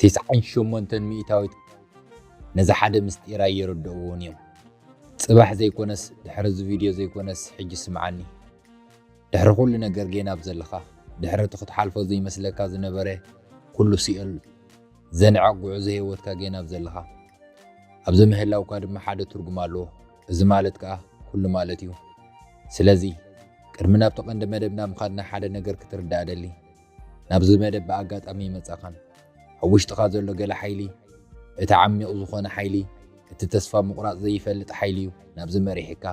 ቲስዓን ሸሞንተን ሚእታዊት ነዚ ሓደ ምስጢር ኣይርድእዎን እዮም። ጽባሕ ዘይኮነስ ድሕሪ እዚ ቪድዮ ዘይኮነስ ሕጂ ስምዓኒ። ድሕሪ ኩሉ ነገር ጌና ኣብ ዘለኻ ድሕሪ እቲ ክትሓልፎ ዘይመስለካ ዝነበረ ኩሉ ሲኦል ዘንዕቕ ጉዕዞ ህይወትካ ጌና ኣብ ዘለኻ ኣብዚ ምህላውካ ድማ ሓደ ትርጉም ኣለዎ እዚ ማለት ከኣ ኩሉ ማለት እዩ ስለዚ ቅድሚ ናብቲ ቀንዲ መደብና ምኻድና ሓደ ነገር ክትርዳእ እደሊ ናብዚ መደብ ብኣጋጣሚ ይመጻኻን ኣብ ውሽጥኻ ዘሎ ገለ ሓይሊ እቲ ዓሚቕ ዝኾነ ሓይሊ እቲ ተስፋ ምቑራጽ ዘይፈልጥ ሓይሊ እዩ ናብዚ መሪሕካ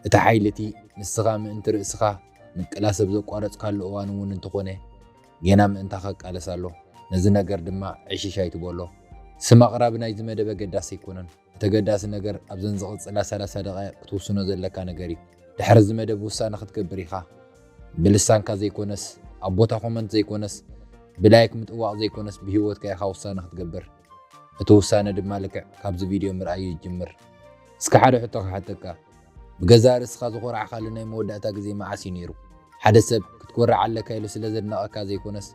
እቲ ሓይሊ እቲ ንስኻ ምእንቲ ርእስኻ ምቅላስ ኣብ ዘቋረጽካሉ እዋን እውን እንተኾነ ጌና ምእንታኻ ይቃለስ ኣሎ። ነዚ ነገር ድማ ዕሽሽ ኣይትበሎ። ስም ኣቕራቢ ናይዚ መደብ ኣገዳሲ ኣይኮነን። እቲ ኣገዳሲ ነገር ኣብዘን ዝቕጽላ ሰላሳ ደቓይቕ ክትውስኖ ዘለካ ነገር እዩ። ድሕሪ እዚ መደብ ውሳነ ክትገብር ኢኻ። ብልሳንካ ዘይኮነስ፣ ኣብ ቦታ ኮመንት ዘይኮነስ፣ ብላይክ ምጥዋቕ ዘይኮነስ ብህይወትካ ኢኻ ውሳነ ክትገብር። እቲ ውሳነ ድማ ልክዕ ካብዚ ቪድዮ ምርኣይ እዩ ዝጅምር። እስከ ሓደ ሕቶ ክሓተካ፣ ብገዛእ ርእስኻ ዝኾራዕካሉ ናይ መወዳእታ ግዜ መዓስ እዩ ነይሩ? ሓደ ሰብ ክትኮርዕ ኣለካ ኢሉ ስለ ዘድነቐካ ዘይኮነስ፣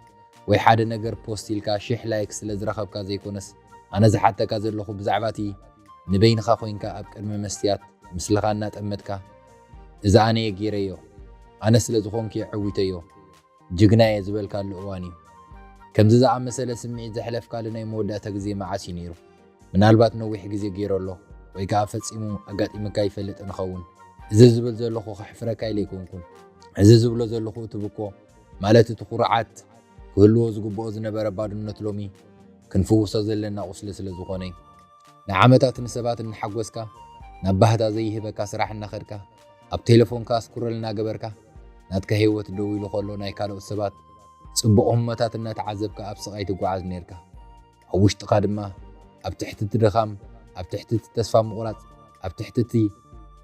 ወይ ሓደ ነገር ፖስት ኢልካ ሽሕ ላይክ ስለ ዝረኸብካ ዘይኮነስ፣ ኣነ ዝሓተካ ዘለኹ ብዛዕባ እቲ ንበይንኻ ኮይንካ ኣብ ቅድሚ መስትያት ምስልኻ እናጠመትካ እዚ ኣነ'የ ገይረዮ፣ ኣነ ስለ ዝኾንኩ'የ ዐዊተዮ፣ ጅግና እየ ዝበልካሉ እዋን እዩ። ከምዚ ዝኣመሰለ ስምዒት ዘሕለፍካሉ ናይ መወዳእታ ግዜ መዓስ እዩ ነይሩ? ምናልባት ነዊሕ ግዜ ገይሩ ኣሎ ወይ ከኣ ፈጺሙ ኣጋጢሙካ ኣይፈልጥን ይኸውን። እዚ ዝብል ዘለኹ ከሕፍረካ ኢለ ኣይኮንኩን። እዚ ዝብሎ ዘለኹ እቲ ብኮ ማለት እቲ ኩርዓት ክህልዎ ዝግብኦ ዝነበረ ባዶነት ሎሚ ክንፍውሶ ዘለና ቁስሊ ስለ ዝኾነ እዩ። ንዓመታት ንሰባት እናሓጎስካ ናብ ባህታ ዘይህበካ ስራሕ እናኸድካ፣ ኣብ ቴለፎንካ ስኩረል እናገበርካ ናትካ ሂወት ደው ኢሉ ከሎ ናይ ካልኦት ሰባት ጽቡቕ ህሞታት እናተዓዘብካ ኣብ ስቓይ ትጓዓዝ ኔርካ ኣብ ውሽጥኻ ድማ ኣብ ትሕቲ እቲ ድኻም ኣብ ትሕቲ እቲ ተስፋ ምቑራጽ ኣብ ትሕቲ እቲ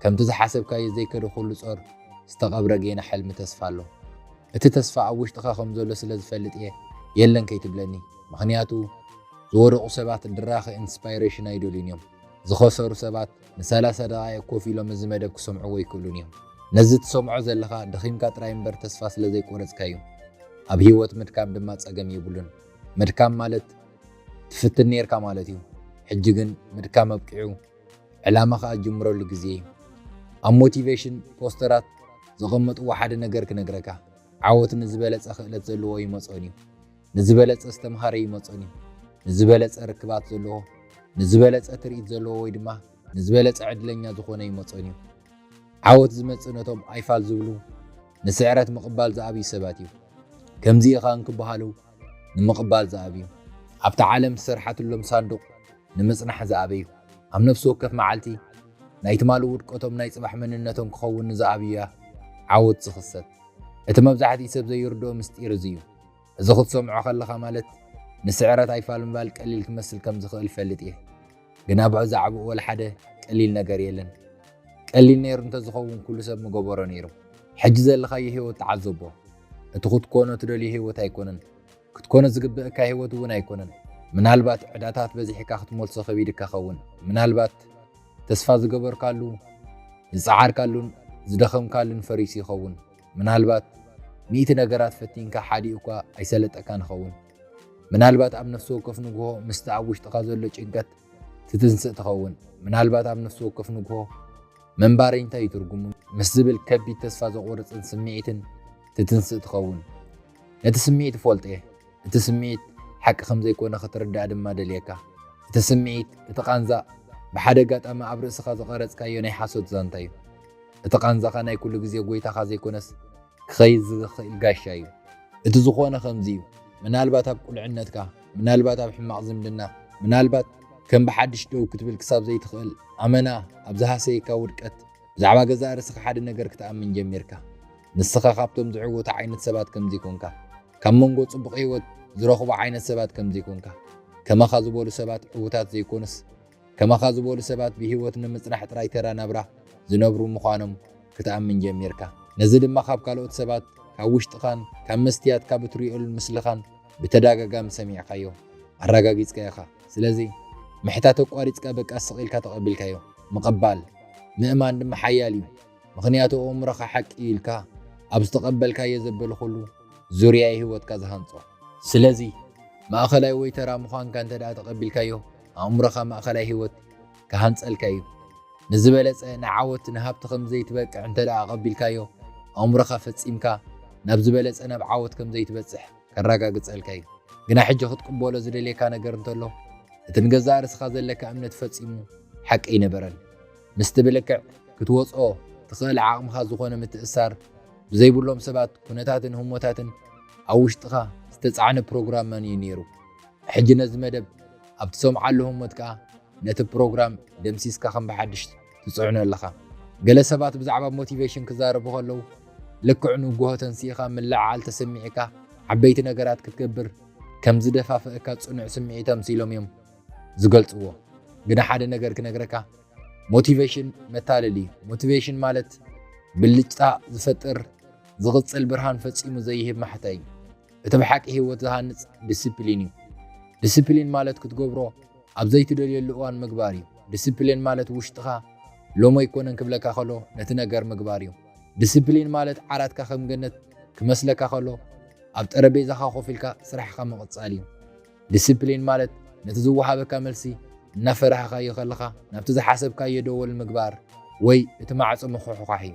ከምቲ ዝሓሰብካዮ ዘይከደ ኩሉ ጾር ዝተቐብረ ጌና ሕልሚ ተስፋ ኣሎ እቲ ተስፋ ኣብ ውሽጥኻ ከም ዘሎ ስለ ዝፈልጥ እየ የለን ከይትብለኒ ምኽንያቱ ዝወደቑ ሰባት ድራኸ ኢንስፓይሬሽን ኣይደልዩን እዮም ዝኸሰሩ ሰባት ንሰላሳ ደቓይቕ ኮፍ ኢሎም እዚ መደብ ክሰምዕዎ ኣይክእሉን እዮም። ነዚ ትሰምዖ ዘለኻ ደኺምካ ጥራይ እምበር ተስፋ ስለ ዘይቆረጽካ እዩ። ኣብ ህይወት ምድካም ድማ ጸገም የብሉን። ምድካም ማለት ትፍትን ኔርካ ማለት እዩ። ሕጂ ግን ምድካም ኣብቂዑ ዕላማኻ ኣጅምረሉ ግዜ እዩ። ኣብ ሞቲቬሽን ፖስተራት ዘቐመጥዎ ሓደ ነገር ክነግረካ፣ ዓወት ንዝበለጸ ክእለት ዘለዎ ይመጾን እዩ። ንዝበለጸ ዝተምሃረ ይመጾን እዩ። ንዝበለጸ ርክባት ዘለዎ፣ ንዝበለጸ ትርኢት ዘለዎ ወይ ድማ ንዝበለጸ ዕድለኛ ዝኾነ ይመጾን እዩ። ዓወት ዝመጽእ ነቶም ኣይፋል ዝብሉ፣ ንስዕረት ምቕባል ዝኣብዩ ሰባት እዩ። ከምዚ ኢኻ እንክበሃሉ ንምቕባል ዝኣብዩ። ኣብታ ዓለም ዝሰርሓትሎም ሳንዱቕ ንምጽናሕ ዝኣበዩ። ኣብ ነፍሲ ወከፍ መዓልቲ ናይ ትማሊ ውድቀቶም ናይ ጽባሕ መንነቶም ክኸውን ንዝኣብዩያ ዓወት ዝኽሰት። እቲ መብዛሕትኡ ሰብ ዘይርድኦ ምስጢር እዚ እዩ። እዚ ክትሰምዖ ከለኻ ማለት ንስዕረት ኣይፋል ምባል ቀሊል ክመስል ከም ዝኽእል እፈልጥ እየ። ግና ብዕዛዕብኡ ወላ ሓደ ቀሊል ነገር የለን። ቀሊል ነይሩ እንተዝኸውን ኩሉ ሰብ ምገበሮ ነይሩ። ሕጂ ዘለኻዮ ህይወት ተዓዘቦ። እቲ ክትኮኖ ትደልዮ ህይወት ኣይኮነን። ክትኮኖ ዝግብእካ ህይወት እውን ኣይኮነን። ምናልባት ዕዳታት በዚሕካ ክትመልሶ ከቢድካ ኸውን። ምናልባት ተስፋ ዝገበርካሉ፣ ዝጸዓርካሉን ዝደኸምካሉን ፈሪሱ ይኸውን። ምናልባት ሚእቲ ነገራት ፈቲንካ ሓዲኡካ ኣይሰለጠካን ይኸውን። ምናልባት ኣብ ነፍሲ ወከፍ ንግሆ ምስቲ ኣብ ውሽጥኻ ዘሎ ጭንቀት ትትንስእ ትኸውን። ምናልባት ኣብ ነፍሲ ወከፍ ንግሆ ምንባረይ እንታይ እዩ ትርጉሙ ምስ ዝብል ከቢድ ተስፋ ዘቑርጽን ስምዒትን ትትንስእ ትኸውን። ነቲ ስምዒት እፈልጦ እየ። እቲ ስምዒት ሓቂ ከም ዘይኮነ ክትርዳእ ድማ ደልየካ። እቲ ስምዒት፣ እቲ ቃንዛ፣ ብሓደ ኣጋጣሚ ኣብ ርእስኻ ዝቐረጽካዮ ናይ ሓሶት ዛንታ እዩ። እቲ ቃንዛኻ ናይ ኩሉ ግዜ ጎይታኻ ዘይኮነስ ክኸይድ ዝኽእል ጋሻ እዩ። እቲ ዝኾነ ከምዚ እዩ፣ ምናልባት ኣብ ቁልዕነትካ፣ ምናልባት ኣብ ሕማቕ ዝምድና፣ ምናልባት ከም ብሓድሽ ደው ክትብል ክሳብ ዘይትኽእል ኣመና ኣብ ዝሃሰየካ ውድቀት ብዛዕባ ገዛእ ርእስኻ ሓደ ነገር ክትኣምን ጀሚርካ። ንስኻ ካብቶም ዝዕወቱ ዓይነት ሰባት ከም ዘይኮንካ፣ ካብ መንጎ ጽቡቕ ህይወት ዝረኽቡ ዓይነት ሰባት ከም ዘይኮንካ፣ ከማኻ ዝበሉ ሰባት ዕዉታት ዘይኮኑስ፣ ከማኻ ዝበሉ ሰባት ብህይወት ንምጽናሕ ጥራይ ተራ ናብራ ዝነብሩ ምዃኖም ክትኣምን ጀሚርካ። ነዚ ድማ ካብ ካልኦት ሰባት፣ ካብ ውሽጥኻን ካብ መስትያት ካብ እትርእዮሉን ምስልኻን ብተዳጋጋሚ ሰሚዕካዮ፣ ኣራጋጊጽካዮ ኢኻ። ስለዚ ምሕታት ኣቋሪጽካ በቃ ስቕ ኢልካ ተቐቢልካዮ። ምቕባል፣ ምእማን ድማ ሓያል እዩ። ምኽንያቱ ኣእምሮኻ ሓቂ እዩ ኢልካ ኣብ ዝተቐበልካዮ ዘበለ ኩሉ ዙርያ'ዩ ህይወትካ ዝሃንጾ። ስለዚ ማእከላይ ወይ ተራ ምዃንካ እንተድኣ ተቐቢልካዮ፣ ኣእምሮኻ ማእከላይ ህይወት ክሃንጸልካ እዩ። ንዝበለጸ፣ ንዓወት፣ ንሃብቲ ከም ዘይትበቅዕ እንተ ደኣ ኣቐቢልካዮ፣ ኣእምሮኻ ፈጺምካ ናብ ዝበለጸ፣ ናብ ዓወት ከም ዘይትበጽሕ ከራጋግጸልካ እዩ። ግና ሕጂ ክትቅበሎ ዝደልየካ ነገር እንተሎ፣ እቲ ንገዛእ ርእስኻ ዘለካ እምነት ፈጺሙ ሓቂ ኣይነበረን። ምስቲ ብልክዕ ክትወጽኦ ትኽእል ዓቕምኻ ዝኾነ ምትእስሳር ብዘይብሎም ሰባት፣ ኩነታትን ህሞታትን ኣብ ውሽጥኻ ዝተጻዕነ ፕሮግራም ማን እዩ ነይሩ? ሕጂ ነዚ መደብ ኣብ ትሰምዓሉ ህሞት ከኣ ነቲ ፕሮግራም ደምሲስካ ከም ብሓድሽ ትጽዕኖ ኣለኻ። ገለ ሰባት ብዛዕባ ሞቲቬሽን ክዛረቡ ከለዉ ልክዕ ንጉሆ ተንሲእኻ ምልዕዓል ተሰሚዕካ ዓበይቲ ነገራት ክትገብር ከም ዝደፋፍእካ ጽኑዕ ስምዒት ኣምሲሎም እዮም ዝገልጽዎ። ግና ሓደ ነገር ክነግረካ ሞቲቬሽን መታለሊ እዩ። ሞቲቬሽን ማለት ብልጭታ ዝፈጥር ዝቕጽል ብርሃን ፈጺሙ ዘይህብ ማሕታ እዩ። እቲ ብሓቂ ህይወት ዝሃንጽ ድስፕሊን እዩ። ድስፕሊን ማለት ክትገብሮ ኣብ ዘይትደልየሉ እዋን ምግባር እዩ። ድስፕሊን ማለት ውሽጥኻ ሎሚ ኣይኮነን ክብለካ ከሎ ነቲ ነገር ምግባር እዩ። ድስፕሊን ማለት ዓራትካ ከም ገነት ክመስለካ ከሎ ኣብ ጠረጴዛኻ ኮፍ ኢልካ ስራሕኻ ምቕጻል እዩ። ድስፕሊን ማለት ነቲ ዝወሃበካ መልሲ እናፈራህኻዮ ከለኻ ናብቲ ዝሓሰብካዮ ደወል ምግባር ወይ እቲ ማዕጾ ምኹሕዃሕ እዩ።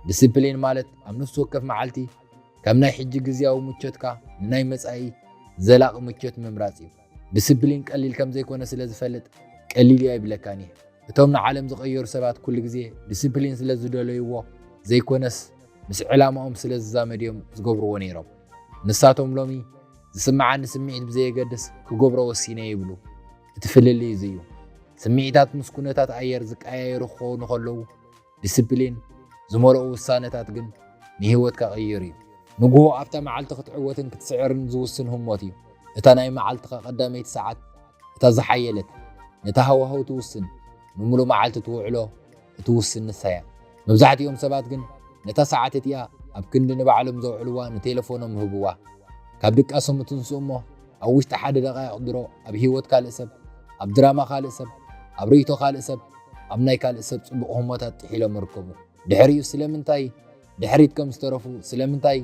ድስፕሊን ማለት ኣብ ነፍሲ ወከፍ መዓልቲ ካብ ናይ ሕጂ ግዝያዊ ምቾትካ ንናይ መጻኢ ዘላቂ ምቾት ምምራጽ እዩ። ድስፕሊን ቀሊል ከም ዘይኮነ ስለ ዝፈልጥ ቀሊል እዩ ኣይብለካን እየ። እቶም ንዓለም ዝቐየሩ ሰባት ኩሉ ግዜ ድስፕሊን ስለ ዝደለዩዎ ዘይኮነስ ምስ ዕላማኦም ስለ ዝዛመድ እዮም ዝገብሩዎ ነይሮም። ንሳቶም ሎሚ ዝስምዓኒ ስምዒት ብዘየገድስ ክገብሮ ወሲነ ይብሉ። እቲ ፍልልይ እዚ እዩ። ስምዒታት ምስ ኩነታት ኣየር ዝቀያየሩ ክኾኑ ከለዉ፣ ዲሲፕሊን ዝመልኦ ውሳነታት ግን ንህይወትካ ቕይር እዩ። ንግሆ ኣብታ መዓልቲ ክትዕወትን ክትስዕርን ዝውስን ህሞት እዩ። እታ ናይ መዓልትኻ ቀዳመይቲ ሰዓት እታ ዝሓየለት፣ ነቲ ሃዋህው ትውስን፣ ንምሉእ መዓልቲ ትውዕሎ እትውስን ንሳ እያ። መብዛሕትኦም ሰባት ግን ነታ ሰዓት እቲኣ ኣብ ክንዲ ንባዕሎም ዘውዕልዋ ንቴለፎኖም ህብዋ። ካብ ድቃሶም እትንስኡ እሞ ኣብ ውሽጢ ሓደ ደቓይቕ ድሮ ኣብ ህይወት ካልእ ሰብ፣ ኣብ ድራማ ካልእ ሰብ፣ ኣብ ርእይቶ ካልእ ሰብ፣ ኣብ ናይ ካልእ ሰብ ጽቡቕ ህሞታት ጥሒሎም ይርከቡ። ድሕሪኡ ስለምንታይ ድሕሪት ከም ዝተረፉ፣ ስለምንታይ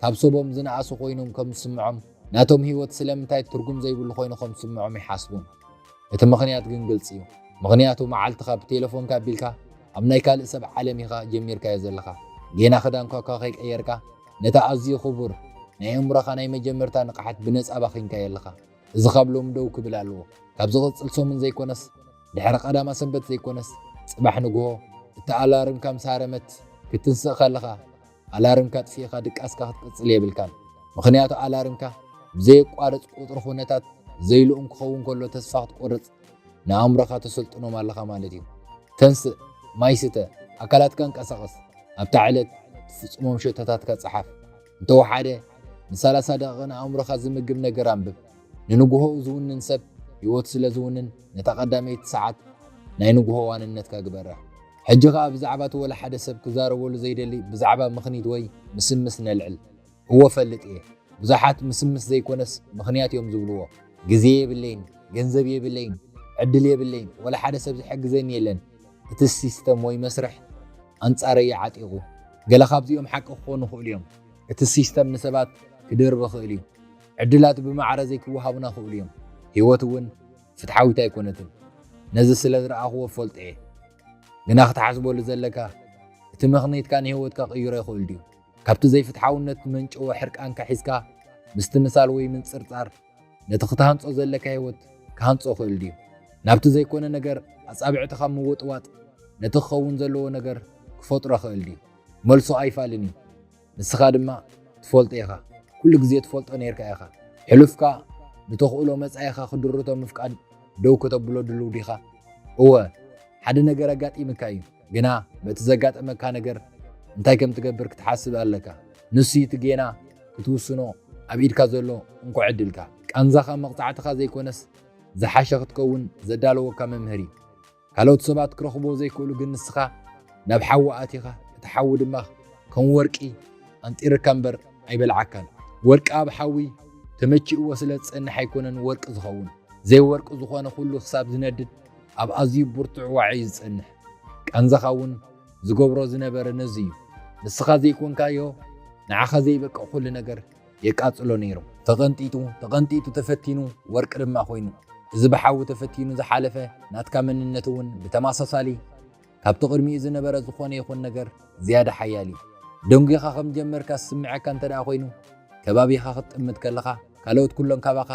ካብ ሰቦም ዝነኣሱ ኮይኖም ከም ዝስምዖም፣ ናቶም ህይወት ስለምንታይ ትርጉም ዘይብሉ ኮይኑ ከም ዝስምዖም ይሓስቡ። እቲ ምኽንያት ግን ግልጺ እዩ። ምኽንያቱ መዓልትኻ ብቴለፎንካ ኣቢልካ ኣብ ናይ ካልእ ሰብ ዓለም ኢኻ ጀሚርካዮ ዘለኻ። ጌና ክዳንኳ'ኳ ከይቀየርካ፣ ነቲ ኣዝዩ ክቡር ናይ ኣእምሮኻ ናይ መጀመርታ ንቕሓት ብነጻ ኣባኺንካዮ ኣለኻ። እዚ ካብ ሎሚ ደው ክብል ኣለዎ። ካብ ዝቕጽል ሰሙን ዘይኮነስ፣ ድሕሪ ቀዳማ ሰንበት ዘይኮነስ፣ ጽባሕ ንግሆ እታ ኣላርምካ ምስ ሃረመት ክትትንስእ ከለኻ፣ ኣላርምካ ኣጥፊእካ ድቃስካ ክትቅጽል የብልካን። ምኽንያቱ ኣላርምካ ብዘየቋርጽ ቁጽሪ ኩነታት ዘይልኡም ክኸውን ከሎ ተስፋ ክትቆርጽ ንኣእምሮኻ ተሰልጥኖም ኣለኻ ማለት እዩ። ተንስእ፣ ማይ ስተ፣ ኣካላትካ ኣንቀሳቕስ፣ ኣብታ ዕለት ትፍጽሞም ሸቶታትካ ጽሓፍ፣ እንተ ወሓደ ንሰላሳ ደቒቕ ንኣእምሮኻ ዝምግብ ነገር ኣንብብ። ንንግሆኡ ዝውንን ሰብ ህይወቱ ስለ ዝውንን ነታ ቀዳመይቲ ሰዓት ናይ ንግሆ ዋንነትካ ግበራ። ሕጂ ኸኣ ብዛዕባ እቲ ወላ ሓደ ሰብ ክዛረበሉ ዘይደሊ ብዛዕባ ምኽኒት ወይ ምስምስ ነልዕል። እወ እፈልጥ እየ ብዙሓት ምስምስ ዘይኮነስ ምኽንያት እዮም ዝብልዎ ግዜ የብለይን ገንዘብ የብለይን ዕድል የብለይን ወላ ሓደ ሰብ ዝሕግዘኒ የለን እቲ ሲስተም ወይ መስርሕ ኣንጻረይ እዩ ዓጢቑ ገለ ካብዚኦም ሓቂ ክኾኑ ይኽእሉ እዮም እቲ ሲስተም ንሰባት ክድርብ ይኽእል እዩ ዕድላት ብማዕረ ዘይክወሃቡና ይኽእሉ እዮም ህይወት እውን ፍትሓዊት ኣይኮነትን ነዚ ስለ ዝረኣኽዎ እፈልጦ እየ ግና ክትሓስበሉ ዘለካ እቲ ምኽንይትካ ንህይወትካ ክቕይሮ ይኽእል ድዩ ካብቲ ዘይፍትሓውነት ዝመንጨወ ሕርቃንካ ሒዝካ ምስትምሳል ወይ ምንጽርጻር፣ ነቲ ክትሃንጾ ዘለካ ህይወት ክሃንጾ ይኽእል ድዩ? ናብቲ ዘይኮነ ነገር ኣጻብዕትኻ ምውጥዋጥ፣ ነቲ ክኸውን ዘለዎ ነገር ክፈጥሮ ይኽእል ድዩ? መልሱ ኣይፋልን እዩ። ንስኻ ድማ ትፈልጦ ኢኻ። ኩሉ ግዜ ትፈልጦ ኔርካ ኢኻ። ሕሉፍካ ብተኽእሎ መጻኢኻ ክድርቶ ምፍቃድ ደው ከተብሎ ድሉው ዲኻ? እወ፣ ሓደ ነገር ኣጋጢምካ እዩ። ግና በቲ ዘጋጠመካ ነገር እንታይ ከም ትገብር ክትሓስብ ኣለካ ንሱዩ እቲ ጌና ክትውስኖ ኣብ ኢድካ ዘሎ እንኮ ዕድልካ ቃንዛኻ መቕጻዕትኻ ዘይኮነስ ዝሓሸ ክትከውን ዘዳለወካ መምህር እዩ ካልኦት ሰባት ክረኽብዎ ዘይክእሉ ግን ንስኻ ናብ ሓዊ ኣቲኻ እቲ ሓዊ ድማ ከም ወርቂ ኣንጢርካ እምበር ኣይበልዓካን ወርቂ ኣብ ሓዊ ተመቺእዎ ስለ ዝጸንሕ ኣይኮነን ወርቂ ዝኸውን ዘይወርቂ ዝኾነ ኩሉ ክሳብ ዝነድድ ኣብ ኣዝዩ ብርቱዕ ዋዒ እዩ ዝጸንሕ። ቃንዛኻ እውን ዝገብሮ ዝነበረ ነዚ እዩ። ንስኻ ዘይኮንካዮ ንዓኻ ዘይበቅዕ ኩሉ ነገር የቃጽሎ ነይሩ። ተቐንጢጡ ተቐንጢጡ ተፈቲኑ ወርቂ ድማ ኮይኑ። እዚ ብሓዊ ተፈቲኑ ዝሓለፈ ናትካ መንነት እውን ብተማሳሳሊ። ካብቲ ቅድሚኡ ዝነበረ ዝኾነ ይኹን ነገር ዝያዳ ሓያል እዩ። ደንጒኻ ከም ዝጀመርካ ዝስምዓካ እንተድኣ ኮይኑ፣ ከባቢኻ ክትጥምት ከለኻ ካልኦት ኩሎም ካባኻ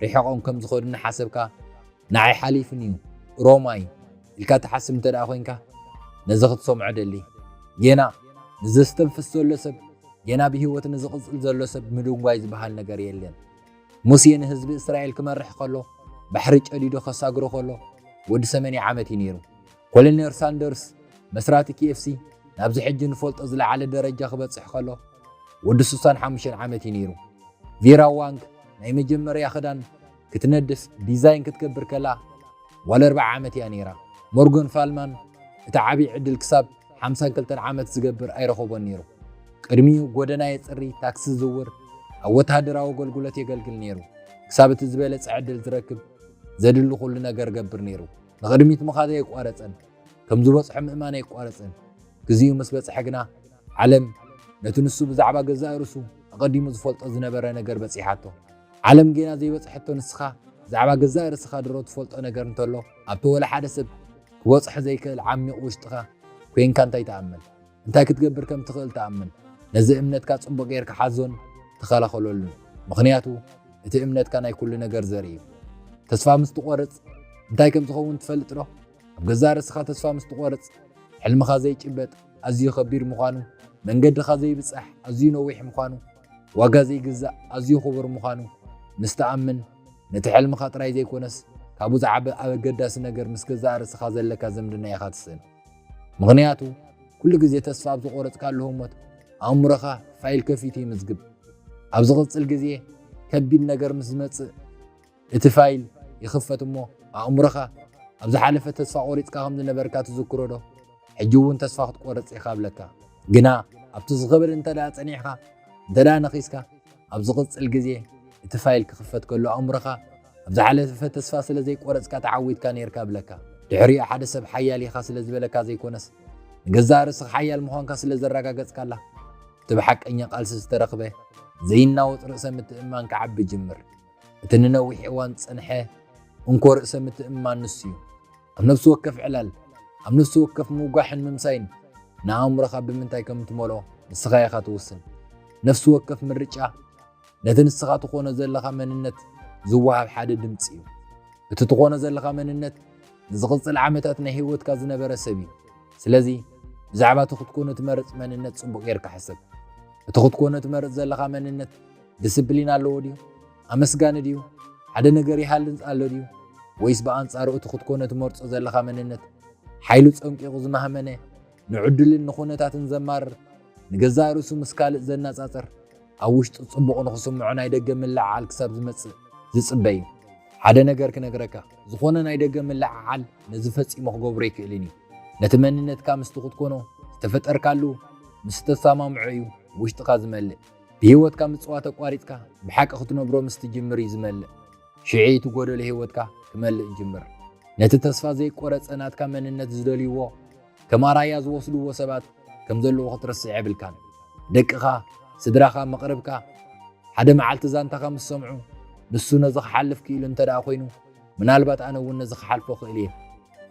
ርሒቖም ከም ዝኸዱ እናሓሰብካ ንዓይ ሓሊፉኒ እዩ፣ ሮማይ ኢልካ ትሓስብ እንተድኣ ኮይንካ ነዚ ክትሰምዖ እደሊ። ጌና ንዘስተንፍስ ዘሎ ሰብ፣ ጌና ብህይወት ንዝቕጽል ዘሎ ሰብ ምድንጓይ ዝበሃል ነገር የለን። ሙሴ ንህዝቢ እስራኤል ክመርሕ ከሎ፣ ባሕሪ ጨዲዱ ከሳግሮ ከሎ ወዲ ሰመንያ ዓመት እዩ ነይሩ። ኮሎኔር ሳንደርስ፣ መስራቲ ኪኤፍሲ፣ ናብዚ ሕጂ ንፈልጦ ዝለዓለ ደረጃ ክበጽሕ ከሎ ወዲ ስሳን ሓሙሽተን ዓመት እዩ ነይሩ። ቬራ ዋንግ ናይ መጀመርያ ክዳን ክትነድፍ፣ ዲዛይን ክትገብር፣ ከላ ጓል ኣርብዓ ዓመት እያ ነይራ። ሞርጎን ፋልማን እቲ ዓቢ ዕድል ክሳብ ሓምሳን ክልተን ዓመት ዝገብር ኣይረኸቦን ነይሩ። ቅድሚኡ ጎደና የጽሪ፣ ታክሲ ይዝውር፣ ኣብ ወተሃደራዊ ኣገልግሎት የገልግል ነይሩ። ክሳብ እቲ ዝበለጸ ዕድል ዝረክብ ዘድሊ ኩሉ ነገር እገብር ነይሩ። ንቕድሚት ምኻዱ ኣይቋረጸን፣ ከም ዝበጽሖ ምእማን ኣይቋረጸን፣ ግዜኡ ምስ በጽሐ ግና ዓለም ነቲ ንሱ ብዛዕባ ገዛእ ርእሱ ኣቐዲሙ ዝፈልጦ ዝነበረ ነገር በጺሓቶ። ዓለም ጌና ዘይበጽሐቶ ንስኻ ብዛዕባ ገዛእ ርእስኻ ድሮ ትፈልጦ ነገር እንተሎ ኣብቲ ወላ ሓደ ሰብ ክበጽሖ ዘይክእል ዓሚቕ ውሽጥኻ ኮንካ እንታይ ትኣምን? እንታይ ክትገብር ከም እትኽእል ተኣምን። ነዚ እምነትካ ጽቡቕ ጌርካ ሓዞን ተኸላኸለሉን፣ ምኽንያቱ እቲ እምነትካ ናይ ኵሉ ነገር ዘርኢ እዩ። ተስፋ ምስ ትቖርጽ እንታይ ከም ዝኸውን ትፈልጥዶ? ኣብ ገዛእ ርእስኻ ተስፋ ምስ ትቖርጽ፣ ሕልምኻ ዘይጭበጥ ኣዝዩ ኸቢድ ምዃኑ፣ መንገድኻ ዘይብጻሕ ኣዝዩ ነዊሕ ምዃኑ፣ ዋጋ ዘይግዛእ ኣዝዩ ኽቡር ምዃኑ ምስ ትኣምን፣ ነቲ ሕልምኻ ጥራይ ዘይኰነስ ካብኡ ዝዓቢ ኣገዳሲ ነገር ምስ ገዛእ ርእስኻ ዘለካ ዝምድና ኢኻ ትስእን። ምኽንያቱ ኩሉ ግዜ ተስፋ ኣብ ዝቖረጽካሉ ህሞት ኣእምሮኻ ፋይል ከፊቱ ይምዝግብ። ኣብ ዝቕጽል ግዜ ከቢድ ነገር ምስ ዝመጽእ እቲ ፋይል ይኽፈት እሞ ኣእምሮኻ ኣብ ዝሓለፈ ተስፋ ቆሪጽካ ከም ዝነበርካ ትዝክሮ ዶ? ሕጂ እውን ተስፋ ክትቆርጽ ኢኻ ብለካ። ግና ኣብቲ ዝኽብል እንተ ደኣ ጸኒዕካ እንተ ደኣ ነኺስካ ኣብ ዝቕጽል ግዜ እቲ ፋይል ክኽፈት ከሎ ኣእምሮኻ ኣብ ዝሓለፈ ተስፋ ስለ ዘይቆረጽካ ተዓዊትካ ነይርካ እብለካ። ድሕሪኡ ሓደ ሰብ ሓያል ኢኻ ስለ ዝበለካ ዘይኮነስ፣ ንገዛእ ርእስኻ ሓያል ምዃንካ ስለ ዘረጋገጽካላ፣ እቲ ብሓቀኛ ቃልሲ ዝተረኽበ ዘይናወጽ ርእሰ ምትእምማን ክዓቢ ይጅምር። እቲ ንነዊሕ እዋን ዝጸንሐ እንኮ ርእሰ ምትእምማን ንሱ እዩ። ኣብ ነፍሲ ወከፍ ዕላል፣ ኣብ ነፍሲ ወከፍ ምውጋሕን ምምሳይን ንኣእምሮኻ ብምንታይ ከም እትመልኦ ንስኻ ኢኻ ትውስን። ነፍሲ ወከፍ ምርጫ፣ ነቲ ንስኻ ትኾኖ ዘለኻ መንነት ዝወሃብ ሓደ ድምፂ እዩ። እቲ ትኾኖ ዘለኻ መንነት ንዝቕፅል ዓመታት ናይ ህይወትካ ዝነበረ ሰብ እዩ። ስለዚ ብዛዕባ እቲ ክትኮኖ ትመርፅ መንነት ፅቡቕ ጌርካ ሕሰብ። እቲ ክትኮኖ ትመርፅ ዘለኻ መንነት ድስፕሊን ኣለዎ ድዩ? ኣመስጋኒ ድዩ? ሓደ ነገር ይሃልንፅ ኣሎ ድዩ? ወይስ ብኣንፃሩ እቲ ክትኮኖ ትመርፆ ዘለኻ መንነት ሓይሉ ፀንቂቑ ዝማህመነ፣ ንዕድልን ንኹነታትን ዘማርር፣ ንገዛእ ርእሱ ምስ ካልእ ዘነጻጽር፣ ኣብ ውሽጡ ጽቡቕ ንኽስምዖ ናይ ደገ ምልዕዓል ክሳብ ዝመጽእ ዝጽበ እዩ። ሓደ ነገር ክነግረካ፣ ዝኾነ ናይ ደገ ምልዕዓል ነዚ ፈጺሙ ክገብሮ ኣይክእልን እዩ። ነቲ መንነትካ ምስቲ ክትኮኖ ዝተፈጠርካሉ ምስ እተሰማምዖ እዩ ውሽጥኻ ዝመልእ። ብህይወትካ ምጽዋት ኣቋሪጽካ ብሓቂ ክትነብሮ ምስ ትጅምር እዩ ዝመልእ። ሽዑ እቲ ጎደሎ ህይወትካ ክመልእ ይጅምር። ነቲ ተስፋ ዘይቆረጸ ናትካ መንነት ዝደልዩዎ፣ ከም ኣርኣያ ዝወስድዎ ሰባት ከም ዘለዎ ክትርስዕ የብልካን። ደቅኻ፣ ስድራኻ፣ መቕርብካ ሓደ መዓልቲ ዛንታኻ ምስ ሰምዑ ንሱ ነዚ ክሓልፍ ክኢሉ እንተ ደኣ ኮይኑ ምናልባት ኣነ እውን ነዚ ክሓልፎ እኽእል እየ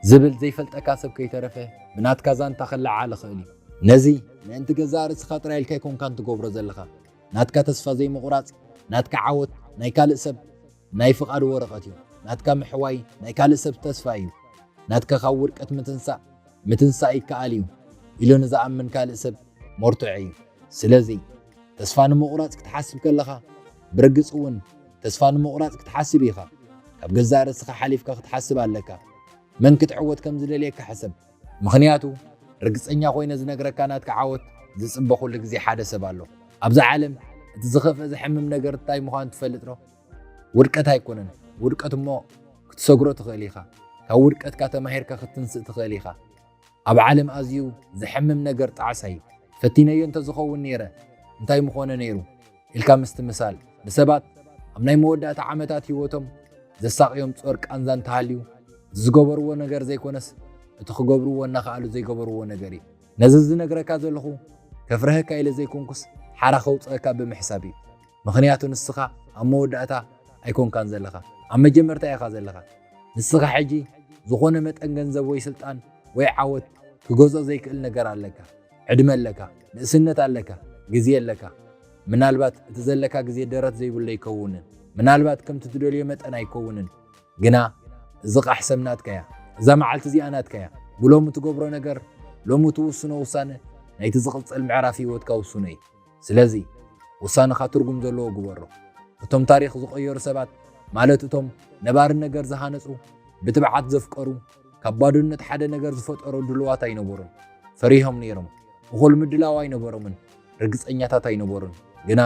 ዝብል ዘይፈልጠካ ሰብ ከይተረፈ ብናትካ ዛንታ ክለዓል ይኽእል እዩ። ነዚ ምእንቲ ገዛእ ርእስኻ ጥራይ ኢልካ ኣይኮንካን ትገብሮ ዘለኻ። ናትካ ተስፋ ዘይምቑራጽ፣ ናትካ ዓወት ናይ ካልእ ሰብ ናይ ፍቓድ ወረቐት እዩ። ናትካ ምሕዋይ ናይ ካልእ ሰብ ተስፋ እዩ። ናትካ ካብ ውድቀት ምትንሳእ ምትንሳእ ይከኣል እዩ ኢሉ ንዝኣምን ካልእ ሰብ መርትዖ እዩ። ስለዚ ተስፋ ንምቑራጽ ክትሓስብ ከለኻ ብርግጽ እውን ተስፋ ንምቑራጽ ክትሓስብ ኢኻ። ካብ ገዛእ ርእስኻ ሓሊፍካ ክትሓስብ ኣለካ። መን ክትዕወት ከም ዝደልየካ ሕሰብ። ምኽንያቱ ርግጸኛ ኮይነ ዝነግረካ ናትካ ዓወት ዝጽበ ኩሉ ግዜ ሓደ ሰብ ኣሎ ኣብዛ ዓለም እቲ ዝኸፍእ ዘሕምም ነገር እንታይ ምዃኑ ትፈልጥ ዶ ውድቀት ኣይኮነን ውድቀት እሞ ክትሰግሮ ትኽእል ኢኻ ካብ ውድቀትካ ተማሂርካ ክትንስእ ትኽእል ኢኻ ኣብ ዓለም ኣዝዩ ዘሕምም ነገር ጣዕሳ እዩ ፈቲነዮ እንተዝኸውን ነይረ እንታይ ምኾነ ነይሩ ኢልካ ምስትምሳል ንሰባት ኣብ ናይ መወዳእታ ዓመታት ህይወቶም ዘሳቕዮም ጾር ቃንዛ እንተሃልዩ እዚ ዝገበርዎ ነገር ዘይኮነስ እቲ ክገብርዎ እናኸኣሉ ዘይገበርዎ ነገር እዩ። ነዚ ዝነግረካ ዘለኹ ከፍርሀካ ኢለ ዘይኮንኩስ ሓራ ከውጽኣካ ብምሕሳብ እዩ። ምኽንያቱ ንስኻ ኣብ መወዳእታ ኣይኮንካን ዘለኻ ኣብ መጀመርታ ኢኻ ዘለኻ። ንስኻ ሕጂ ዝኾነ መጠን ገንዘብ ወይ ስልጣን ወይ ዓወት ክገዝኦ ዘይክእል ነገር ኣለካ። ዕድመ ኣለካ፣ ንእስነት ኣለካ፣ ግዜ ኣለካ። ምናልባት እቲ ዘለካ ግዜ ደረት ዘይብሉ ኣይከውንን፣ ምናልባት ከምቲ ትደልዮ መጠን ኣይከውንን፣ ግና እዚ ቓሕ ሰም ናትካ እያ፣ እዛ መዓልቲ እዚኣ ናትካ እያ። ብሎሚ ትገብሮ ነገር፣ ሎሚ ትውስኖ ውሳነ ናይቲ ዝቕጽል ምዕራፍ ህይወትካ ውስኖ እዩ። ስለዚ ውሳነኻ ትርጉም ዘለዎ ግበሮ። እቶም ታሪኽ ዝቐየሩ ሰባት፣ ማለት እቶም ነባሪ ነገር ዝሃነጹ፣ ብትብዓት ዘፍቀሩ፣ ካብ ባዶነት ሓደ ነገር ዝፈጠሮ ድልዋት ኣይነበሩን። ፈሪሆም ነይሮም። እኹል ምድላው ኣይነበሮምን። ርግጸኛታት ኣይነበሩን። ግና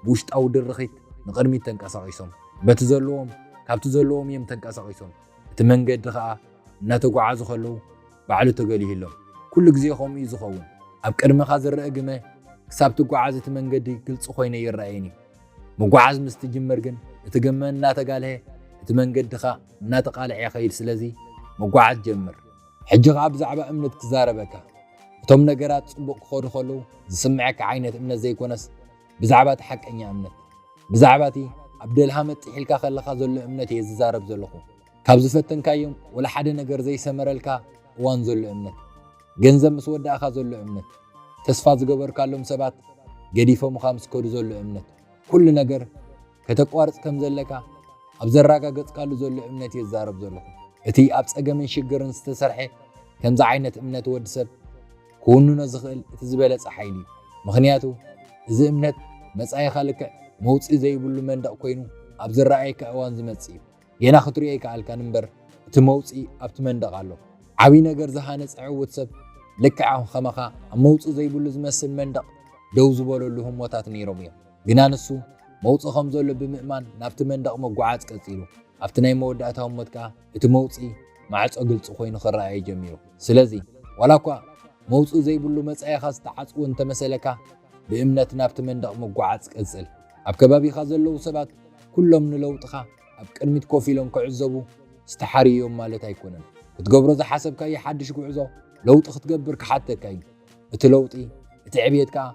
ብውሽጣዊ ድርኺት ንቕድሚት ተንቀሳቒሶም። በቲ ዘለዎም ካብቲ ዘለዎም እዮም ተንቀሳቒሶም። እቲ መንገዲ ኸኣ እናተጓዓዙ ከለዉ ባዕሉ ተገሊህሎም። ኩሉ ግዜ ከምኡ እዩ ዝኸውን። ኣብ ቅድመኻ ዝርአ ግመ ክሳብ ትጓዓዝ እቲ መንገዲ ግልጺ ኮይነ ይረኣየኒ። ምጉዓዝ ምስ ትጅምር ግን እቲ ግመ እናተጋልሀ እቲ መንገዲ ኸኣ እናተቃልዔ ይኸይድ ስለዚ መጓዓዝ ጀምር ሕጂ ከኣ ብዛዕባ እምነት ክዛረበካ እቶም ነገራት ጽቡቅ ክኸዱ ከለዉ ዝስመዐካ ዓይነት እምነት ዘይኮነስ ብዛዕባ እቲ ሓቀኛ እምነት ብዛዕባ እቲ ኣብ ደልሃ መጥሕ ኢልካ ከለኻ ዘሎ እምነት እየ ዝዛረብ ዘለኹ ካብ ዝፈተንካዮም ወላ ሓደ ነገር ዘይሰመረልካ እዋን ዘሎ እምነት ገንዘብ ምስ ወዳእኻ ዘሎ እምነት ተስፋ ዝገበርካሎም ሰባት ገዲፎምኻ ምስ ከዱ ዘሎ እምነት ኩሉ ነገር ከተቋርጽ ከም ዘለካ ኣብ ዘራጋገጽካሉ ዘሎ እምነት እየ ዝዛረብ ዘለኹ። እቲ ኣብ ጸገምን ሽግርን ዝተሰርሐ ከምዚ ዓይነት እምነት ወዲ ሰብ ክውንኖ ዝኽእል እቲ ዝበለጸ ሓይሊ እዩ። ምኽንያቱ እዚ እምነት መጻኢኻ ልክዕ መውጽኢ ዘይብሉ መንደቕ ኮይኑ ኣብ ዝረኣየካ እዋን ዝመጽእ እዩ። ጌና ክትሪኦ ኣይከኣልካን እምበር እቲ መውጽኢ ኣብቲ መንደቕ ኣሎ። ዓቢ ነገር ዝሃነጸ ዕውት ሰብ ልክዕ ከማኻ ኣብ መውጽኢ ዘይብሉ ዝመስል መንደቕ ደው ዝበለሉ ህሞታት ነይሮም እዮም። ግና ንሱ መውጽኢ ከም ዘሎ ብምእማን ናብቲ መንደቕ ምጉዓዝ ቀጺሉ። ኣብቲ ናይ መወዳእታ ህሞት ከኣ እቲ መውጽኢ ማዕጾ ግልጺ ኮይኑ ክረኣዮ ጀሚሩ። ስለዚ ዋላ እኳ መውጽኢ ዘይብሉ መጻኢኻ ዝተዓጽወ እንተመሰለካ ብእምነት ናብቲ መንደቕ ምጉዓዝ ቀጽል። ኣብ ከባቢኻ ዘለዉ ሰባት ኩሎም ንለውጥኻ ኣብ ቅድሚት ኮፍ ኢሎም ክዕዘቡ ዝተሓርዩ እዮም ማለት ኣይኮነን። ክትገብሮ ዝሓሰብካዮ ሓድሽ ጉዕዞ ለውጢ ክትገብር ክሓተካ እዩ። እቲ ለውጢ፣ እቲ ዕብየት ከኣ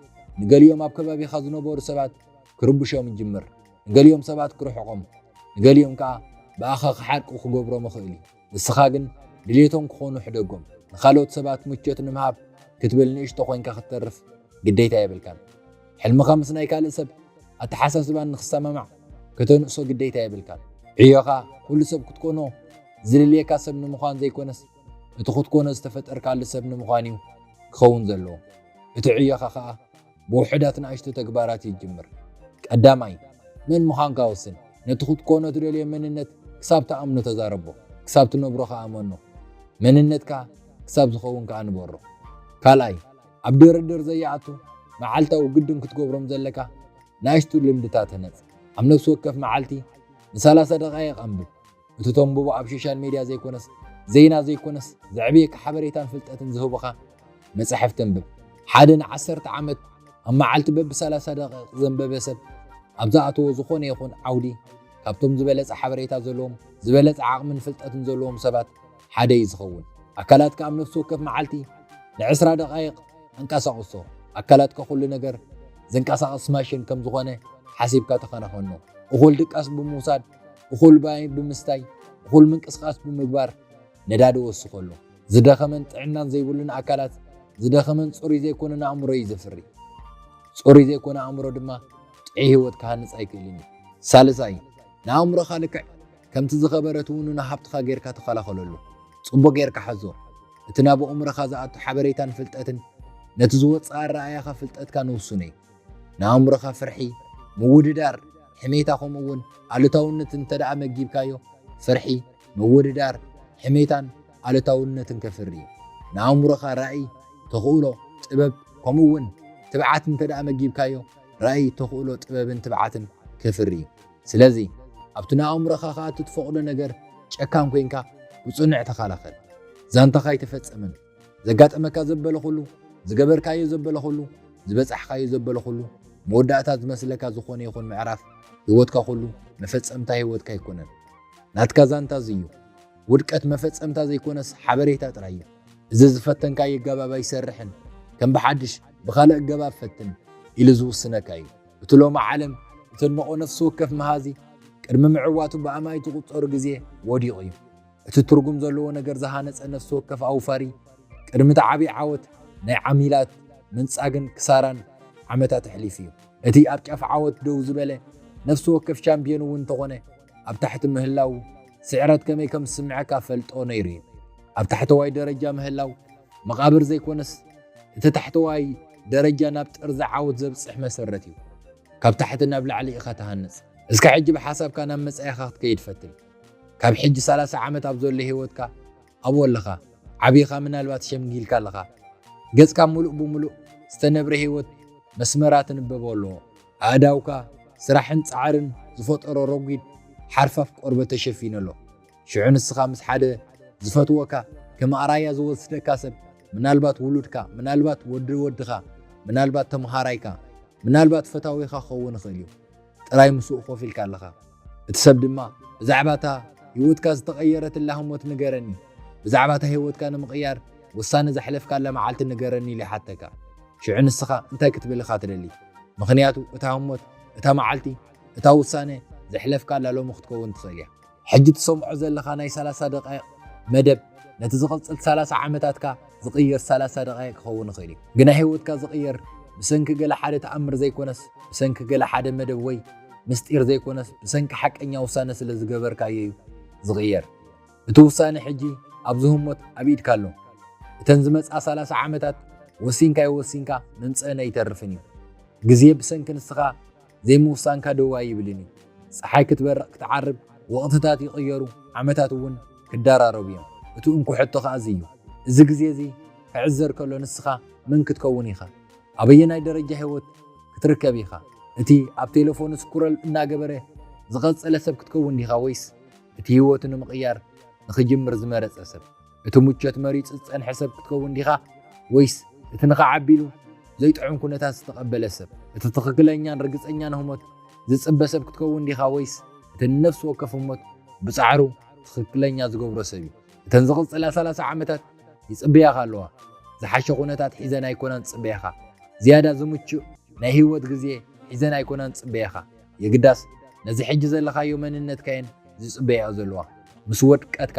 ንገሊኦም ኣብ ከባቢኻ ዝነበሩ ሰባት ክርብሾም ይጅምር፣ ንገሊኦም ሰባት ክርሕቖም፣ ንገሊኦም ከኣ ብኣኻ ክሓርቁ ክገብሮም ይኽእል እዩ። ንስኻ ግን ድሌቶም ክኾኑ ሕደጎም። ንኻልኦት ሰባት ምቾት ንምሃብ ክትብል ንእሽቶ ኮይንካ ክትተርፍ ግዴታ የብልካን። ሕልምኻ ምስ ናይ ካልእ ሰብ ኣተሓሳስባን ንክሰማማዕ ከተንእሶ ግዴታ የብልካን። ዕዮኻ ኩሉ ሰብ ክትኮኖ ዝልልየካ ሰብ ንምዃን ዘይኮነስ እቲ ክትኮኖ ዝተፈጠርካሉ ሰብ ንምዃን እዩ ክኸውን ዘለዎ። እቲ ዕዮኻ ከኣ ብውሑዳት ንኣሽቱ ተግባራት እዩ ዝጅምር። ቀዳማይ፣ መን ምዃንካ ወስን። ነቲ ክትኮኖ ትደልዮ መንነት ክሳብ ትኣምኖ ተዛረቦ፣ ክሳብ ትነብሮ ከኣ እመኖ። መንነትካ ክሳብ ዝኸውን ከኣ ንበሮ። ካልኣይ፣ ኣብ ድርድር ዘይኣቱ መዓልታዊ ግድን ክትገብሮም ዘለካ ንኣሽቱ ልምድታት ህነጽ። ኣብ ነፍሲ ወከፍ መዓልቲ ንሰላሳ ደቓይቕ ኣንብብ። እቲ ተንብቦ ኣብ ሾሻል ሜድያ ዘይኮነስ ዜና ዘይኮነስ ዘዕብየካ ሓበሬታን ፍልጠትን ዝህቡኻ መጻሕፍቲ ኣንብብ። ሓደ ንዓሰርተ ዓመት ኣብ መዓልቲ በብ ሰላሳ ደቒቕ ዘንበበ ሰብ ኣብ ዝኣተዎ ዝኾነ ይኹን ዓውዲ ካብቶም ዝበለጸ ሓበሬታ ዘለዎም ዝበለጸ ዓቕምን ፍልጠትን ዘለዎም ሰባት ሓደ እዩ ዝኸውን። ኣካላትካ ኣብ ነፍሲ ወከፍ መዓልቲ ንዕስራ ደቓይቕ ኣንቀሳቕሶ። ኣካላትካ ኩሉ ነገር ዘንቀሳቕስ ማሽን ከም ዝኾነ ሓሲብካ ተኸናኸኖ። እኹል ድቃስ ብምውሳድ እኹል ማይ ብምስታይ፣ እኹል ምንቅስቓስ ብምግባር ነዳዲ ይወስኽ ኣሎ። ዝደኸመን ጥዕናን ዘይብሉን ኣካላት ዝደኸመን ጽሩይ ዘይኮነን ኣእምሮ እዩ ዘፍሪ። ጽሩይ ዘይኮነ ኣእምሮ ድማ ጥዑይ ህይወት ክሃንጽ ኣይክእልን እዩ። ሳልሳይ፣ ንኣእምሮኻ ልክዕ ከምቲ ዝኸበረ ትውንኖ ሃብትኻ ጌርካ ተኸላኸለሉ። ጽቡቕ ጌርካ ሓዞ። እቲ ናብ ኣእምሮኻ ዝኣቱ ሓበሬታን ፍልጠትን ነቲ ዝወጽእ ኣረኣእያኻ ፍልጠትካን ውሱን እዩ። ንኣእምሮኻ ፍርሒ፣ ምውድዳር፣ ሕሜታ ከምኡ እውን ኣሉታውነት እንተድኣ መጊብካዮ፣ ፍርሒ፣ ምውድዳር፣ ሕሜታን ኣሉታውነትን ከፍሪ እዩ። ንኣእምሮኻ ራእይ፣ ተኽእሎ፣ ጥበብ ከምኡ እውን ትብዓት እንተድኣ መጊብካዮ፣ ራእይ፣ ተኽእሎ፣ ጥበብን ትብዓትን ከፍሪ እዩ። ስለዚ ኣብቲ ንኣእምሮኻ ክኣቱ እትፈቕዶ ነገር ጨካን ኮይንካ ብጽኑዕ ተኸላኸል። ዛንታኻ ኣይተፈጸመን። ዘጋጠመካ ዘበለ ኹሉ፣ ዝገበርካዮ ዘበለ ኹሉ፣ ዝበጻሕኻዮ ዘበለ ኹሉ፣ መወዳእታ ዝመስለካ ዝኾነ ይኹን ምዕራፍ ህይወትካ ኹሉ፣ መፈጸምታ ህይወትካ ኣይኮነን። ናትካ ዛንታ እዚ እዩ። ውድቀት መፈጸምታ ዘይኮነስ ሓበሬታ ጥራይ እዩ። እዚ ዝፈተንካዮ ኣገባብ ኣይሰርሕን፣ ከም ብሓድሽ ብኻልእ ኣገባብ ፈትን ኢሉ ዝውስነካ እዩ። እቲ ሎሚ ዓለም እተድንቖ ነፍሲ ወከፍ መሃዚ፣ ቅድሚ ምዕዋቱ ብኣማኢት ዝቑጸሩ ግዜ ወዲቑ እዩ። እቲ ትርጉም ዘለዎ ነገር ዝሃነጸ ነፍሲ ወከፍ ኣውፋሪ፣ ቅድሚ እቲ ዓብዪ ዓወት ናይ ዓሚላት ምንጻግን ክሳራን ዓመታት ኣሕሊፉ እዩ። እቲ ኣብ ጫፍ ዓወት ደው ዝበለ ነፍሲ ወከፍ ሻምፕዮን እውን እንተኾነ ኣብ ታሕቲ ምህላዉ ስዕረት ከመይ ከም ዝስምዐካ እፈልጦ ነይሩ እዩ። ኣብ ታሕተዋይ ደረጃ ምህላው መቓብር ዘይኮነስ እቲ ታሕተዋይ ደረጃ ናብ ጥርዚ ዓወት ዘብጽሕ መሰረት እዩ። ካብ ታሕቲ ናብ ላዕሊ ኢኻ ትሃንጽ። እስከ ሕጂ ብሓሳብካ ናብ መጻኢኻ ክትከይድ ፈትን። ካብ ሕጂ ሰላሳ ዓመት ኣብ ዘሎ ሂወትካ ኣብኡ ኣለኻ ዓቢኻ ምናልባት ሸምጊልካ ኣለኻ ገጽካ ምሉእ ብምሉእ ዝተነብረ ሂወት መስመራ ትንበቦ ኣለዎ ኣእዳውካ ስራሕን ጻዕርን ዝፈጠሮ ረጒድ ሓርፋፍ ቆርበት ተሸፊኑ ኣሎ ሽዑ ንስኻ ምስ ሓደ ዝፈትወካ ከም ኣራያ ዝወስደካ ሰብ ምናልባት ውሉድካ ምናልባት ወዲ ወድኻ ምናልባት ተምሃራይካ ምናልባት ፈታዊኻ ክኸውን ይኽእል እዩ ጥራይ ምስኡ ኮፍ ኢልካ ኣለኻ። እቲ ሰብ ድማ ብዛዕባ እታ ህይወትካ ዝተቐየረትላ ህሞት ንገረኒ፣ ብዛዕባ እታ ህይወትካ ንምቕያር ውሳነ ዘሕለፍካላ መዓልቲ ንገረኒ ኢሉ ይሓተካ። ሽዑ ንስኻ እንታይ ክትብል ኢኻ ትደሊ? ምኽንያቱ እታ ህሞት፣ እታ መዓልቲ፣ እታ ውሳነ ዘሕለፍካላ ሎሚ ክትከውን ትኽእል እያ። ሕጂ ትሰምዖ ዘለኻ ናይ ሰላሳ ደቓይቕ መደብ ነቲ ዝቕጽል ሰላሳ ዓመታትካ ዝቕይር ሰላሳ ደቓይቕ ክኸውን ይኽእል እዩ። ግና ህይወትካ ዝቕየር ብሰንኪ ገለ ሓደ ተኣምር ዘይኮነስ ብሰንኪ ገለ ሓደ መደብ ወይ ምስጢር ዘይኮነስ ብሰንኪ ሓቀኛ ውሳነ ስለ ዝገበርካዮ እዩ ዝቕየር። እቲ ውሳነ ሕጂ ኣብዚ ህሞት ኣብ ኢድካ ኣሎ። እተን ዝመጽኣ ሰላሳ ዓመታት ወሲንካ ኣይወሲንካ ምምጽእን ኣይተርፍን እዩ። ግዜ ብሰንኪ ንስኻ ዘይምውሳንካ ደው ኣይብልን እዩ። ጸሓይ ክትበርቕ ክትዓርብ፣ ወቕትታት ይቕየሩ፣ ዓመታት እውን ክደራረቡ እዮም። እቲ እንኮ ሕቶ ከኣ እዚ እዩ፣ እዚ ግዜ እዚ ክዕዘር ከሎ ንስኻ መን ክትከውን ኢኻ? ኣበየናይ ደረጃ ህይወት ክትርከብ ኢኻ? እቲ ኣብ ቴለፎኑ ስኩረል እናገበረ ዝቐጸለ ሰብ ክትከውን ዲኻ ወይስ እቲ ህይወቱ ንምቕያር ንኽጅምር ዝመረጸ ሰብ? እቲ ሙቸት መሪጽ ዝጸንሐ ሰብ ክትከውን ዲኻ ወይስ እቲ ንኸዓቢ ኢሉ ዘይጥዑም ኩነታት ዝተቐበለ ሰብ? እቲ ትኽክለኛን ርግጸኛን ህሞት ዝጽበ ሰብ ክትከውን ዲኻ ወይስ እቲ ንነፍሲ ወከፍ ህሞት ብጻዕሩ ትኽክለኛ ዝገብሮ ሰብ እዩ? እተን ዝቕጽላ ሰላሳ ዓመታት ይጽበያኻ ኣለዋ። ዝሓሸ ኩነታት ሒዘን ኣይኮናን ዝጽበያኻ፣ ዝያዳ ዝምቹእ ናይ ህይወት ግዜ ሒዘን ኣይኮናን ዝጽበያኻ። የግዳስ ነዚ ሕጂ ዘለኻዮ መንነትካ እየን ዝጽበያኦ ዘለዋ። ምስ ወድቀትካ፣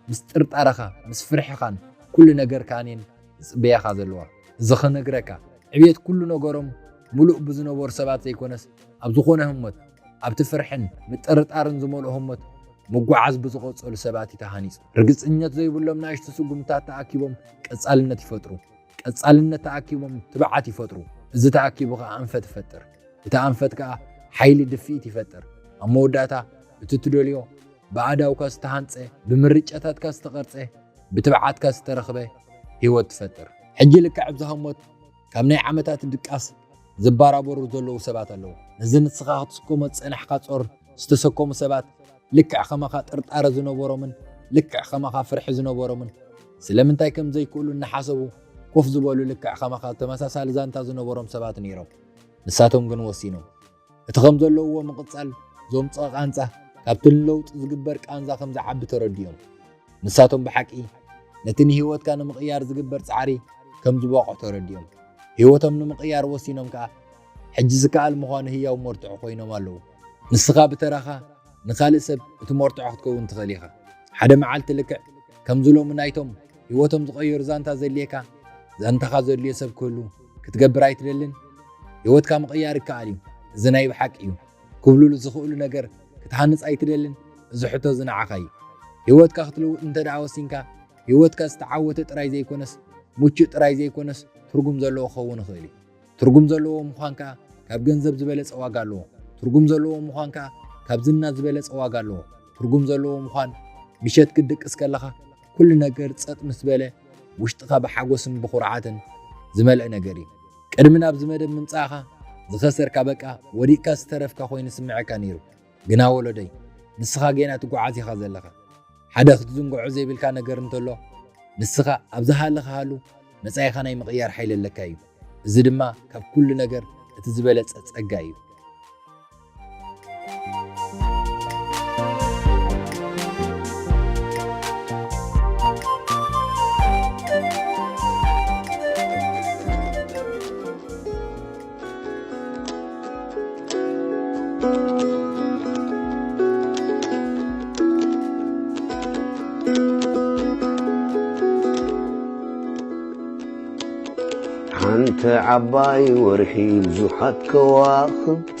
ምስ ጥርጣረኻ፣ ምስ ፍርሕኻን ኩሉ ነገርካን እየን ዝጽበያኻ ዘለዋ። እዚ ክነግረካ፣ ዕብየት ኩሉ ነገሮም ምሉእ ብዝነበሩ ሰባት ዘይኮነስ፣ ኣብ ዝኾነ ህሞት፣ ኣብቲ ፍርሕን ምጥርጣርን ዝመልኦ ህሞት ምጉዓዝ ብዝቐጸሉ ሰባት እዩ ተሃኒጹ። ርግጽኘት ዘይብሎም ናእሽቱ ስጉምትታት ተኣኪቦም ቀጻልነት ይፈጥሩ። ቀጻልነት ተኣኪቦም ትብዓት ይፈጥሩ። እዚ ተኣኪቡ ከኣ ኣንፈት ይፈጥር። እቲ ኣንፈት ከኣ ሓይሊ ድፍኢት ይፈጥር። ኣብ መወዳእታ እቲ ትደልዮ ብኣእዳውካ ዝተሃንጸ፣ ብምርጫታትካ ዝተቐርጸ፣ ብትብዓትካ ዝተረኽበ ህይወት ትፈጥር። ሕጂ ልክዕ ኣብዚ ህሞት ካብ ናይ ዓመታት ድቃስ ዝባራበሩ ዘለዉ ሰባት ኣለዉ። ነዚ ንስኻ ክትስከሞ ዝጸናሕካ ጾር ዝተሰከሙ ሰባት፣ ልክዕ ከማኻ ጥርጣረ ዝነበሮምን ልክዕ ከማኻ ፍርሒ ዝነበሮምን ስለምንታይ ከም ዘይክእሉ እናሓሰቡ ኮፍ ዝበሉ ልክዕ ከማኻ ተመሳሳሊ ዛንታ ዝነበሮም ሰባት ነይሮም። ንሳቶም ግን ወሲኖም እቲ ከም ዘለውዎ ምቕጻል ዘምጽኦ ቃንዛ ካብቲ ንለውጢ ዝግበር ቃንዛ ከም ዝዓቢ ተረዲኦም ንሳቶም ብሓቂ ነቲ ንህይወትካ ንምቕያር ዝግበር ጻዕሪ ከም ዝበቕዑ ተረዲኦም ህይወቶም ንምቕያር ወሲኖም ከኣ ሕጂ ዝከኣል ምዃኑ ህያው መርትዖ ኮይኖም ኣለዉ። ንስኻ ብተራኻ ንኻልእ ሰብ እቲ መርትዖ ክትከውን ትኽእል ኢኻ። ሓደ መዓልቲ ልክዕ ከምዚ ሎሚ ናይቶም ህይወቶም ዝቐየሩ ዛንታ ዘድልየካ ዛንታኻ ዘድልዮ ሰብ ክህሉ ክትገብር ኣይትደልን? ህይወትካ ምቕያር ይከኣል እዩ፣ እዚ ናይ ብሓቂ እዩ ክብሉሉ ዝኽእሉ ነገር ክትሃንጽ ኣይትደልን? እዚ ሕቶ እዚ ንዓኻ እዩ። ህይወትካ ክትልውጥ እንተድኣ ወሲንካ፣ ህይወትካ ዝተዓወተ ጥራይ ዘይኰነስ ምቹእ ጥራይ ዘይኰነስ ትርጕም ዘለዎ ክኸውን ይኽእል እዩ። ትርጉም ዘለዎ ምዃን ከኣ ካብ ገንዘብ ዝበለጸ ዋጋ ኣለዎ። ትርጉም ዘለዎ ምዃን ከኣ ካብ ዝና ዝበለጸ ዋጋ ኣለዎ። ትርጉም ዘለዎ ምዃን ምሸት ክትድቅስ ከለኻ ኩሉ ነገር ጸጥ ምስ በለ ውሽጥኻ ብሓጎስን ብኹርዓትን ዝመልእ ነገር እዩ። ቅድሚ ናብዚ መደብ ምምጻእኻ ዝኸሰርካ በቃ ወዲቕካ ዝተረፍካ ኮይኑ ይስምዓካ ነይሩ። ግና ወሎደይ ንስኻ ጌና ትጎዓዝ ኢኻ ዘለኻ ሓደ ክትዝንግዖ ዘይብልካ ነገር እንተሎ ንስኻ ኣብ ዝሃለኻሃሉ መጻኢኻ ናይ ምቕያር ሓይሊ ኣለካ እዩ እዚ ድማ ካብ ኩሉ ነገር እቲ ዝበለጸ ጸጋ እዩ ሓንቲ ዓባይ ወርሒ ብዙሓት ከዋኽብቲ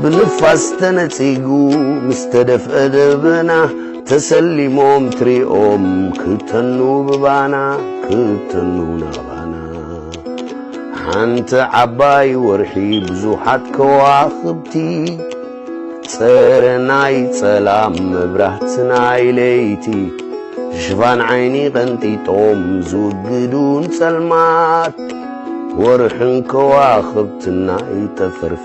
ብንፋስ ተነጺጉ ምስ ተደፍአ ደበና ተሰሊሞም ትሪኦም ክተኑ ብባና ክተኑ ናባና ሓንቲ ዓባይ ወርሒ ብዙሓት ከዋኽብቲ ጸረ ናይ ጸላም መብራህቲ ናይ ለይቲ ሽፋን ዓይኒ ቀንጢጦም ዝውግዱን ጸልማት ወርሕን ከዋኽብትና ይጠፈርፍ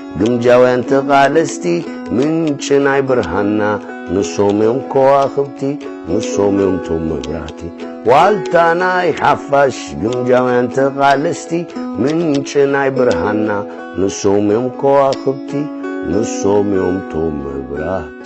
ግምጃውያን ተቓለስቲ ምንጪ ናይ ብርሃንና ንሶም እዮም ከዋኽብቲ ንሶም እዮም ቶም መብራህቲ ዋልታ ናይ ሓፋሽ ግምጃውያን ተቓለስቲ ምንጪ ናይ ብርሃንና ንሶም እዮም ከዋኽብቲ ንሶም እዮም ቶም መብራህቲ